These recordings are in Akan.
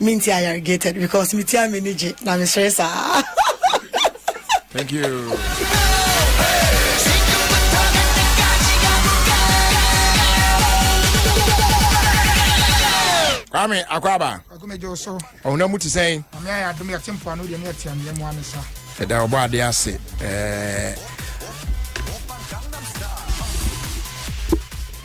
Minti I irrigated because me tia me ni gye na me sere saa. Thank you. kwame akwaba ɔhonam mu te sɛn ɛda ɔbɔ ade ase ɛɛ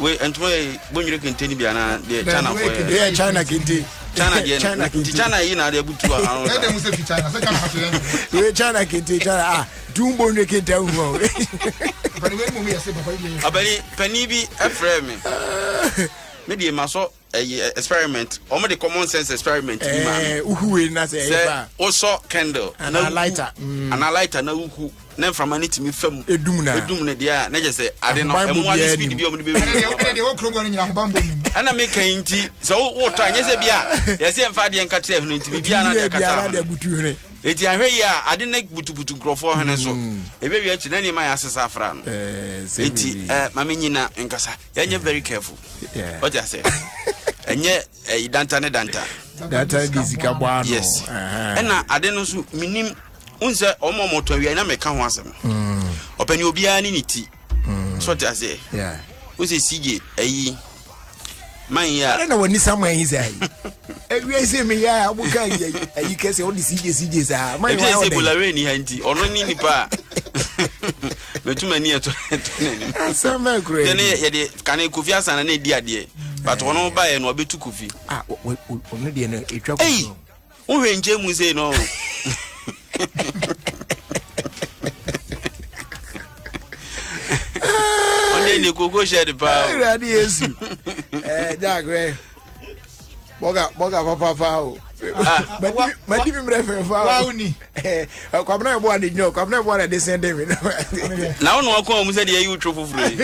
we ntoma yɛ bonyere kente ni bi ana deɛ china fɔ yɛ yɛ china kente china deɛ china kente china yi na adeɛ butu ano sa ɛdɛ mu sɛ fi china sɛ china fɔ yɛ we china kente china ah dun bonyere kente ahu hɔ ɔbɛni pɛni bi ɛfrɛ mi mi deɛ ma sɔ. ɛyɛ experiment wɔn de common sense experiment bi maa mi eh, uhu wei na sɛ ɛyɛ ba sɛ wosɔ candle ana lighter mm. ana lighter na uhu na nframa ne tumi fam edum na edum ne deɛ a na kyerɛ sɛ ade no ɛmu ade speed bi a wɔn de bɛ wuli ɛna deɛ wɔkuro bɔ no nyina ahobanbɔ mu ɛna mi kan nti sɛ wotɔ anyɛ sɛ bi a yɛsɛ nfa adeɛ nka kyerɛ ɛhene nti bi bi a na deɛ kata ahono eti ahwɛ yi a ade ne butubutu nkurɔfoɔ hene so mm. ebe wi akyi na nneɛma yɛ asesa afra no eh, eti ɛɛ eh, maame nyina nkasa. yɛnyɛ very careful ɔte asɛ ɛnyɛ ɛyi danta ne danta danta de sika bɔ ano yes ɛna ade no nso menim n sɛ ɔma ɔmɔtɔ awia na mɛka ho asɛm mm. ɔpɛni obiara ne ne ti mm. so ɔte asɛ wo sɛ sigye ɛyi man yi a ɛna wɔ nisa man yi sɛ ayi ewia sɛ mi yɛ a wɔn kan yɛ ayi kɛse ɔde sigye sigye saa man yi wa ɔdɛ ebi sɛ ebola wɛrɛ ni ha nti ɔno ni nipa a. mɛtu m'ani ɛtɔ n'anim asɛm bɛn kura yi yɛne yɛde kane kofi asana na ɛdi adeɛ but wɔn eh. baeɛ no ɔbɛtu kofi ah, ɔno deɛ no ɛtwa kofi wohwɛ nkyɛ mu sei no ɔne ne koko hyɛ de paa awurade yesu eh, jagrɛ bɔga bɔga papaapa o madi mi mmerɛ fɛfa o kwabena yɛ bɔa de nyɛ o kwabena yɛ bɔa de sɛn de mi. na wọn nua kɔn mu sɛ de ɛyi woturo foforɔ yi.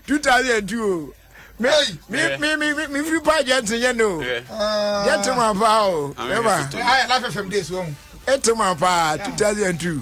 two thousand and two o mi mi mi mi mi firi pa jẹ ti yẹ no jẹ ti ma pa o ẹ ma ẹ ti ma pa two thousand and two.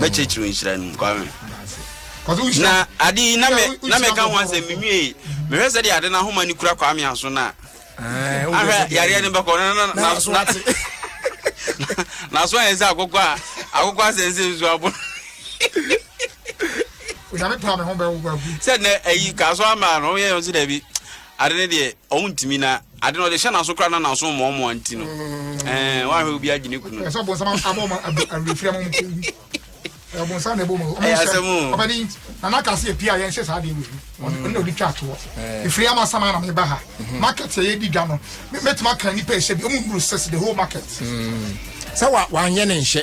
mɛkyerɛkyerɛ nhyira no mu kwame na ade yi na meka ho asɛm menwie mehwɛ sɛ deɛ ade no ahoma no kura kwame aso no a ahwɛ yareɛ no bɛkɔ naso ayɛ sɛ akokɔ a akokɔ asɛ nsɛ nsu abo sɛ nɛ ayi kaa so ama no ɔyɛ yɛ sɛ dabi Ade no deɛ ɔmo ntumi na ade no ɔde hyɛ n'aso koraa na n'aso mmoa mmoa nti no ɛɛ wɔn ahwɛ obi agye ne kunu. Ɛsɛ ɔbɔnsam abɔ ɔmo awerɛfiri ama ɔmo kunu bi. Ɔbɔnsam na ɛbɔ ɔmo ɔmo nsɛm ɔbɛde yi na n'aka se epia yɛn se saa de ewu ɔno na odi twa atoɔ. Efiri ama sama na meba ha market yɛ di dwa no mɛtuma kan nipa ɛhyɛ bi ɔmo nuru six the whole market. Sɛ wa wanyɛ ne nhyɛ.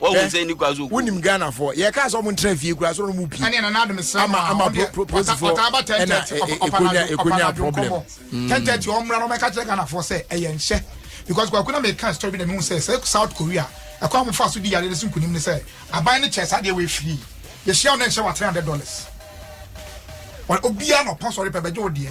wɔn sɛ ni kura so. wonim ghanafoɔ yɛka sɛ ɔmo ntena fie kura so ɔmo pii ama ama polisifoɔ ɛna ɛkonya ɛkonya problem. Mm. ten thirty ɔmra na ɔmɛka kyerɛ ghanafoɔ sɛ ɛyɛ nhyɛ because kwakuna mɛka story bi na mehu sɛ sɛ south korea ɛkɔ a mofa so di yare no so nkunim ne sɛ aban no kyɛ saa deɛ wɔ afiri yɛhyia wo na nhyɛ wɔ three hundred dollars obiara na ɔpɔ sɔre pɛ bɛgye wo deɛ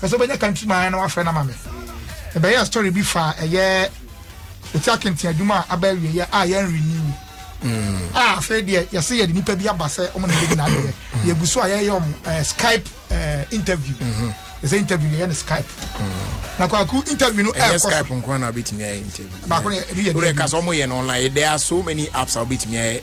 Pɛ sɛ wobɛnya country man na wafrɛ no ama me. Mebɛyɛɛ story bi fa ɛyɛ Eti Akenten adwuma a aba awieɛ a yɛn renew. Mm. A afei deɛ yɛse yɛde nipa bi aba sɛ ɔmo na ɛbɛdi n'adeɛ. Mm. Yɛgu so a yɛyɛ ɔmo eh, Skype eh, interview. Mm-hmm. Yɛsɛ interview yɛyɛ no Skype. Mm. na kwaku interview no ɛyɛ skype nko na wobɛtumi ayɛ interview baako no yɛ ɛbi yɛ dɛ ɛka sɛ ɔmo yɛ no online there are so many apps a wobɛtumi ayɛ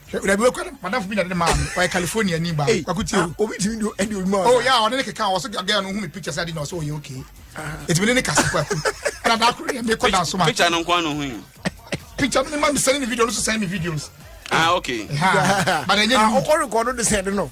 dabi okɔ no madamfo bi na de maa me ɔyɛ california ni ba wako tie o obi tumi do ɛdi odwuma o ya ɔne ne keka ɔso gagaya no hu me picture sɛ ade na ɔso ɔyɛ okay ɛtumi ne ne kasa kwaku ɛna da akoro yɛ mekɔ da so ma picture no nkwa no hu yi picture no ma me sɛne ne video no so sɛne me videos ah okay ha but ɛnyɛ ne mu ɔkɔ rekɔdo de sɛ de no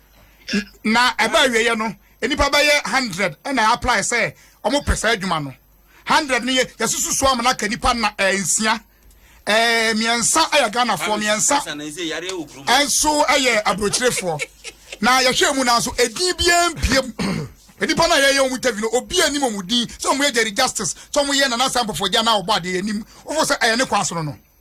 na ɛbɛ awieɛ no nnipa bɛyɛ hundred ɛna apply sɛ wɔn pɛ saa adwuma no hundred no yɛ yɛsusu so ama n'aka nipa na ɛɛ eh, nsia ɛɛ eh, mmiɛnsa ɛyɛ eh, ghanafoɔ mmiɛnsa ɛnso ɛyɛ aburokyerefoɔ na yɛhwɛ mu na nso edin biara mpiem nipa na yɛyɛ wɔn interview no obi anim wɔn din sɛ wɔn yɛ jerry justice sɛ wɔn yɛ nana sanpɔfɔ gya na ɔbɔ adeɛ anim wɔfɔ sɛ ɛyɛ ne kwan so no no.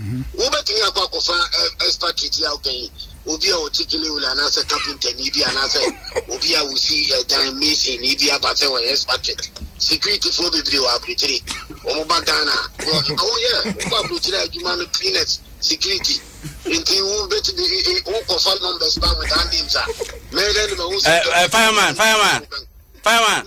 Wobɛtumi akɔ akɔfa expatriate a woka yi, obi a ɔte Gilewil anaasɛ kapentani bi anaasɛ obi a wosi dan mason ni bi aba sɛ wɔyɛ expatriate. Securityfoɔ bebree wɔ aburokyire. Wɔn ba Ghana a, wɔ woyɛ wokɔ aburokyire adwuma no cleaners, security. Nti wobɛtumi wokɔfa numbers ba without names a, mɛyɛ dɛ de mahu sɛ. Fireman, fireman, fireman.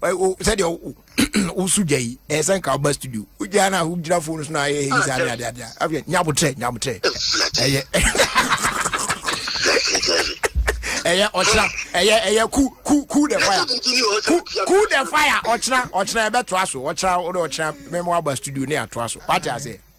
sɛdeɛ woso gya yi ɛyɛ sɛ nka woba studio wogyaa no a wogyina fo no so no ayɛ yi saa ne adeade a afei nyabotrɛ nyabotrɛ ɛyɛ ɛyɛ ɔkyena ɛyɛ ɛyɛ ku ku ku the fire ku ku the fire ɔkyena ɔkyena ɛbɛtoa so ɔkyena wode ɔkyena mɛma waba studio ne atoa so wate aseɛ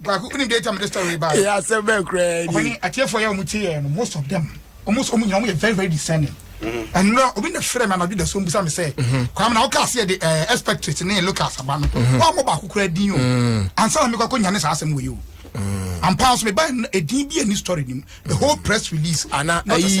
baako onim date a mede story ba yɛ asɛm bɛn koraa ni ɔne atiefoɔ yɛ ɔmo tie yɛ no most of them ɔmo sɛ ɔmo nyina ɔmo yɛ very very discerning ɛnura mm-hmm. obi na fira mi anadu da so mbusa mi sɛ mm-hmm. kwame na ɔka aseɛ de ɛɛ eh, expectorate ne lucas aba no mm-hmm. wɔn mo baako koraa din o mm. ansa na mi kɔ akɔ nyane saa asɛm wɔ yi o mm. ampa nso mi ba edin bi ɛni story nim the whole press release ana ayi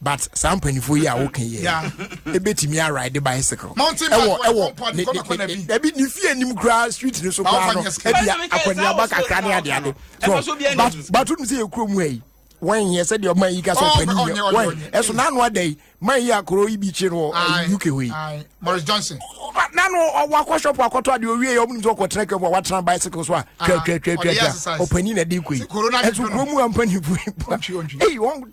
but saa mpanyinfoɔ yi a woka yi ebetumi aride bicycle ɛwɔ ɛwɔ ne ne ɛbi ne fie anim koraa street ne so koraa no ɛbi akɔniaba kakra ne ade ade so but but o nim sɛ yɛ kuro mu ɛyi wɔn yɛ sɛ deɛ ɔman yi ka sɛ ɔpɛni yɛ wɔn ɛso n'ano ada yi man yi akoro yi bi kye no wɔ uk hɔ yi Morris Johnson n'ano ɔwɔ akɔ shop akɔtɔ adeɛ owie yɛ ɔmo nim sɛ ɔkɔ tena kɛmu a watena bicycle so a twɛtwɛtwɛtwɛ ɔpɛni na ɛde kɔ yi ɛso kuro mu a mpanyinfoɔ yi eyi wɔn.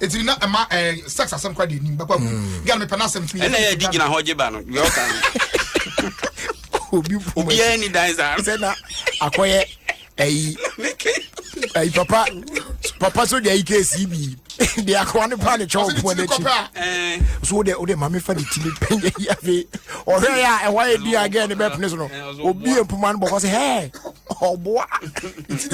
ɛtiri na ɛma eh, sex asɛm kora de anim bɛkɔ agu hmm. gane mepɛ no asɛm tumi ɛna yɛde gyina hɔ gye ba no deɛ ɔka no obiara ni dan saa sɛ na akɔyɛ ayi ayi papa papa so deɛ ike si bi deɛ akɔwa ne paa ne kyɛw pɔn n'akyi eh. so wode wode maame fa de timi pɛnyɛ yi afei ɔhwɛ yɛ a ɛhɔ ayɛ dua gɛɛ ne bɛpene so no eh, obi yɛ mpoma no bɔkɔ sɛ hɛɛ ɔboa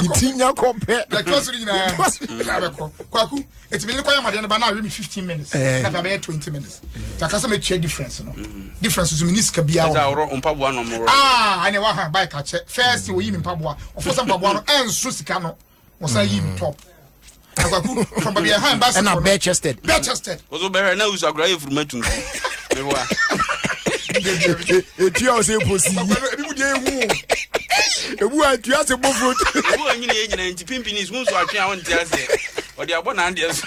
ne ti nya kɔ pɛ na ɛtɔ so no nyinaa na bɛkɔ kwaku ɛtumi ne kɔyɛ madeɛ no ba na awe me 15 minutes eh. na bɛbɛyɛ 20 minutes nti aka sɛ mɛtua difference no mm-hmm. difference so mene sika biaa ɛne waha bike akyɛ first ɔyi me mpaboa ɔfo sɛ mpaboa no ɛnso sika no wɔsan yi no top akwaku from baabi ɛhan baasi ɛna bɛɛ chested bɛɛ chested. kòtò bɛhɛ náà wusu akura yɛ furuma tuntum mi wa. etu a ɔsɛ eposi yi. ebi mu di ewu ebu a etu ase bɔ furo. ebu a nyina yɛ nyina nti pimpin is nso atwe a ɔnte ase ɔde abɔ n'adeɛ so.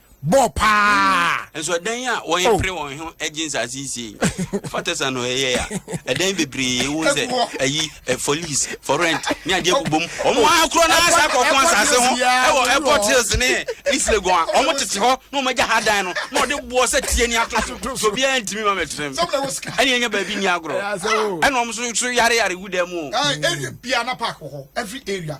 bɔ paa. nso ɛdan a wɔn oh. pere wɔn ho gye nsaase yi sie fatɛsa no ɛyɛ a ɛdan bebree ewu sɛ ɛyi fɔlis fɔrɛnt ne adeɛ bubɔ mu wɔn oh. akorɔ na asa akɔkɔ nsaase ho ɛwɔ airport hills ne isilegon a wɔn tete hɔ na wɔn agya ha dan no na wɔde boɔ sɛ tie ni ato so obiara ntumi ma mɛtena mu ɛna yɛn nyɛ baabi ni agorɔ ɛna wɔn nso so yare yare gu dan mu o. ɛna bia na park wɔ hɔ every area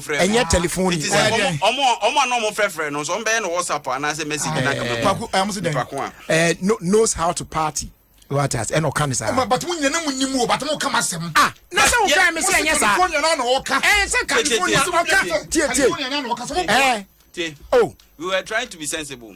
ɛnyɛ telefon yi. ɔmo a na ɔmo frɛfrɛ no nso ɔmo bɛyɛ no whatsapp anaasɛ message na kama mu. kwaku ɛmu sɛ dɛ knows how to party wati ase ɛna ɔka ne saa. ɛma bàtí mo nyɛ ne mo ni mu o bàtí mo kama sɛm. a na sɛ ɔka yɛ mi sɛ ɛnyɛ saa. california na ɔka. ɛɛ sɛ california ɔka. tie tie ɛɛ. o. we were trying to be sensible.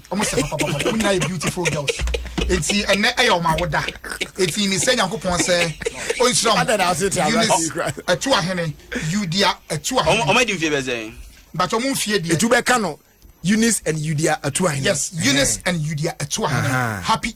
wɔn sɛ papa papa wɔn nyinaa yɛ beautiful girls eti ɛnɛ ɛyɛ wɔn awoda eti mi sɛ nyankopɔn sɛ o n sira wɔn eunice ɛtu ahene yudia ɛtu ahene. wɔn adi nfie bɛ sɛn. bàtà wɔn nfie deɛ. etu bɛ ka no eunice and yudia ɛtu ahene. yes eunice and yudia ɛtu ahene happy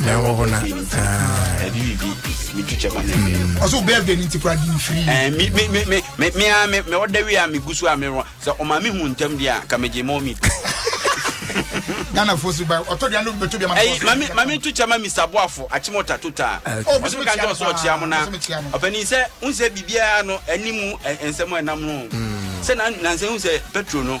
na wɔhɔ na ɔsɛ wo birthday no nti kora de mfiri mea mewɔda wie a megu so a merɔ sɛ ɔma mehu ntam deɛ a ka megye ma ɔmi ghana fo so ba ɔtɔ dua no bɛtɔ dua ma ɛyi mami mami tu kyɛ ma mr boafo akyem ɔta to taa ɔsɛ mi ka nkyɛn ɔsɛ ɔkyea mo na ɔpɛni sɛ n sɛ biribiara no ɛni mu nsɛm ɛnam no sɛ na nansɛn n sɛ petro no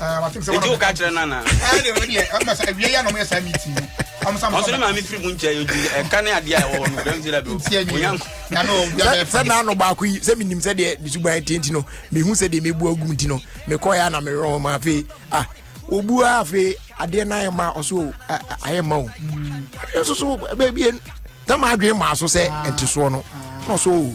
nti woka kyerɛ no anaa ɔsoro maame firi mu nkyɛ yɛdi ɛka ne adeɛ a ɛwɔ hɔ no dɛm sɛ dabi sɛ naano baako yi sɛ menim sɛ deɛ mesuban ɛte nti no mehu sɛ deɛ mɛbu agu nti no mekɔɛ a na mewerɛ hɔ ma afei ah wɔbu a afei adeɛ no ayɛ ma ɔso ayɛ ma o ɛso so baabi tam adwene maa so sɛ ɛntesoɔ no na ɔso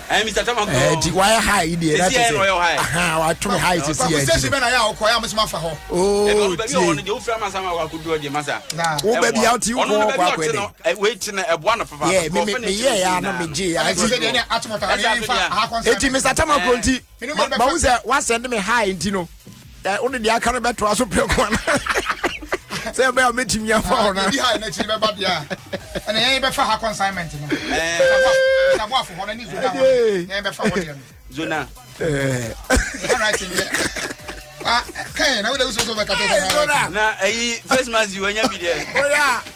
ɛɛ mr tama kɔ ɛɛ ti wayɛ high yi deɛ ɛti sɛ ahan wato mi high sisi yɛ ti sɛ na yɛ ɔkɔ yɛ amusu ma fa hɔ ooo tie wo bɛ bi awo ti kɔ ɔkɔ akɔ ɛdɛ wei ti na ɛboa na fafa yɛ mi mi yɛ ya no mi gye ya ɛti eti mr tama kɔ nti. mahu sɛ woasɛnde me ha nti no wode deɛ aka no bɛtoa so prɛ koa no sɛ ɛbɛyɛ a mɛtumi afa hɔ no zona na ɛyi face mask wanya bi deɛ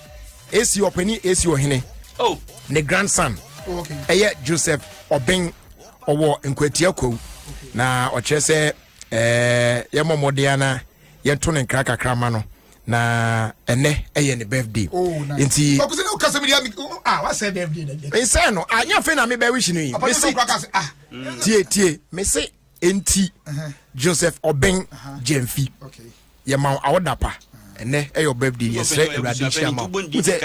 esi ɔpɛni esi ɔhene oh. ne grandson ɛyɛ okay. joseph ɔben ɔwɔ nkwatia kwawu na ɔkyerɛ sɛ ɛɛ eh, yɛmɔ mmɔden ana yɛnto ne nkra kakra ma no na ɛnɛ ɛyɛ ne birthday oh, nti nsɛn no anyɛ afei na mebɛwish no yi mese ah. tie tie mese Enti Joseph Obeng Gyamfi, yɛma wo awoda pa. ɛnɛ ɛyɛ ɔbɛbde yɛsrɛ awurade nhyira ma wo sɛ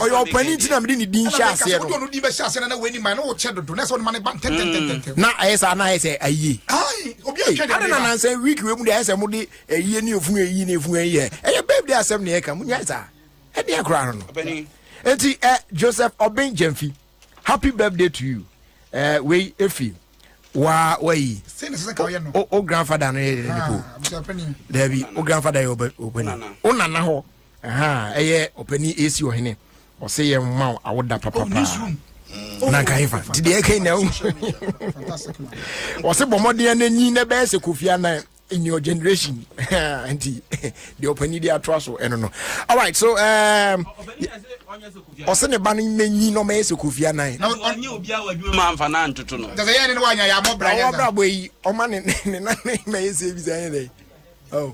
ɔyɛ ɔpani nti na mede ne din hyɛ aseɛ no na ɛyɛ saa na ayɛ sɛ ayie adena nansɛ week wei mu de ayɛ sɛ mode Eyi ɛne ofunu eyi ne efunu eyi yɛ ɛyɛ babe de asɛm ne ɛka mu nyɛ saa ɛdeɛ koraa no no eti ɛ Joseph Obeng Gyamfi happy birthday to you ɛ wei efi waa wayi o o grandfather no yɛ dɛ ne po dɛbi o grandfather yɛ ɔbɛ ɔbɛni o nana hɔ ɛhan ɛyɛ ɔpɛni esi ɔhene ɔsɛ yɛ mma awoda papapa. Oh. na nka efa nti deɛ ɛka nyina wo ɔse bɔmmɔden no nyi na ɛbɛyɛ sɛ kofi anan in your generation nti deɛ ɔpani de atoa so ɛno no alright so um, ɔse ne ba no mɛnyi na ɔmɛyɛ sɛ kofi anan ɔbrabɔ yi ɔma ne nane mɛyɛ sɛ bi sɛ ɛyɛ dɛ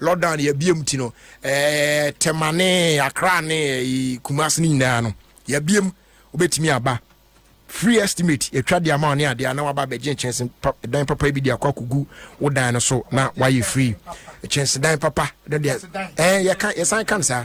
Lockdown yɛabie mu ti no Tema ne Accra ne Kumasi no nyinaa no yɛabie mu wobɛtumi aba free estimate yɛtwa de ama ne adeɛ na waba abɛgye nkyɛnse dan papa bi de akɔ akɔgu wo dan no so na wayɛ free kyɛnse dan papa no deɛ yɛka yɛsan ka no saa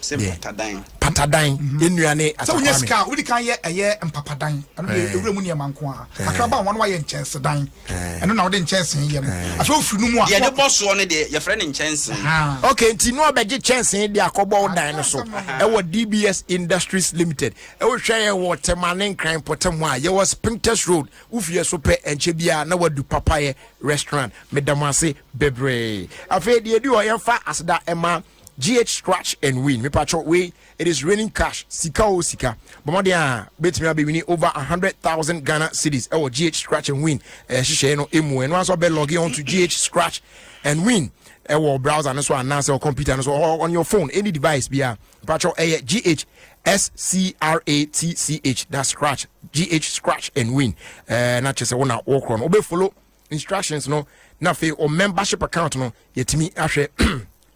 sɛ mpatadan patadan yɛn nua ne asakwa mi sɛ wonya sika a wodi kan yɛ ɛyɛ mpapadan ɛno deɛ eh. ewura mu nneɛma nko a eh. kakra ba wɔn wayɛ nkyɛnsedan eh. ɛno na wɔde nkyɛnsee yɛ no afei ofiri no mu a yɛde bɔ soɔ no deɛ yɛfrɛ no nkyɛnsee ah. ok nti no ɔbɛgye kyɛnsee de akɔbɔ wo dan no so ɛwɔ dbs industries limited ɛwohwɛ yɛ wɔ tɛma ne nkran pɔtɛm a yɛwɔ spintex road wofie so pɛ ɛnkyɛ biara na wadu papayɛ restaurant meda mo ase bebree afei deɛ ɛdi hɔ yɛmfa aseda ɛma GH scratch and win mepatwɔ wei it is raining cash sika o sika bɔ mmɔden a bɛtumi abɛwini over 100,000 Ghana cedis ɛwɔ GH scratch and win ɛhyehyɛeɛ eh, no ɛmu ɛno asɔ bɛ log on to GH scratch and win ɛwɔ browser no so anaasɛ computer no so on your phone any device bia mepatwɔ ɛyɛ GH S C R A T C H. That's scratch. G H scratch and win. Uh, not just one walk on. Obe follow instructions no na afei o membership account no yɛtumi ahwɛ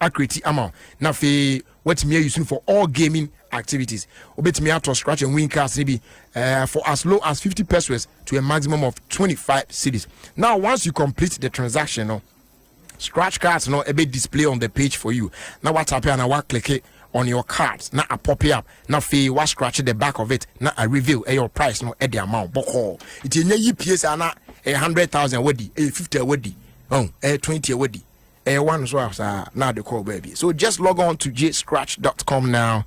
akreti ama wo na afei watumi ayi sunu for all gaming activities wobɛtumi atɔ scratch and win cars no bi uh, for as low as 50 pesos to a maximum of 25 cities now once you complete the transaction no Scratch cards no ɛbɛ display on the page for you na wa tape anaa wa kleke on your card na a pope up na afei wa scratch the back of it na a reveal ɛyɛ ɔ price no ɛde ama wo bɔkɔɔ nti ɛnyɛ yi pie saa na ɛyɛ hundred thousand wadi ɛyɛ fifty a wadi ɔn ɛyɛ twenty a wadi ɛyɛ one so a saa na ade kɔɔ baabi so just log on to jscratch.com now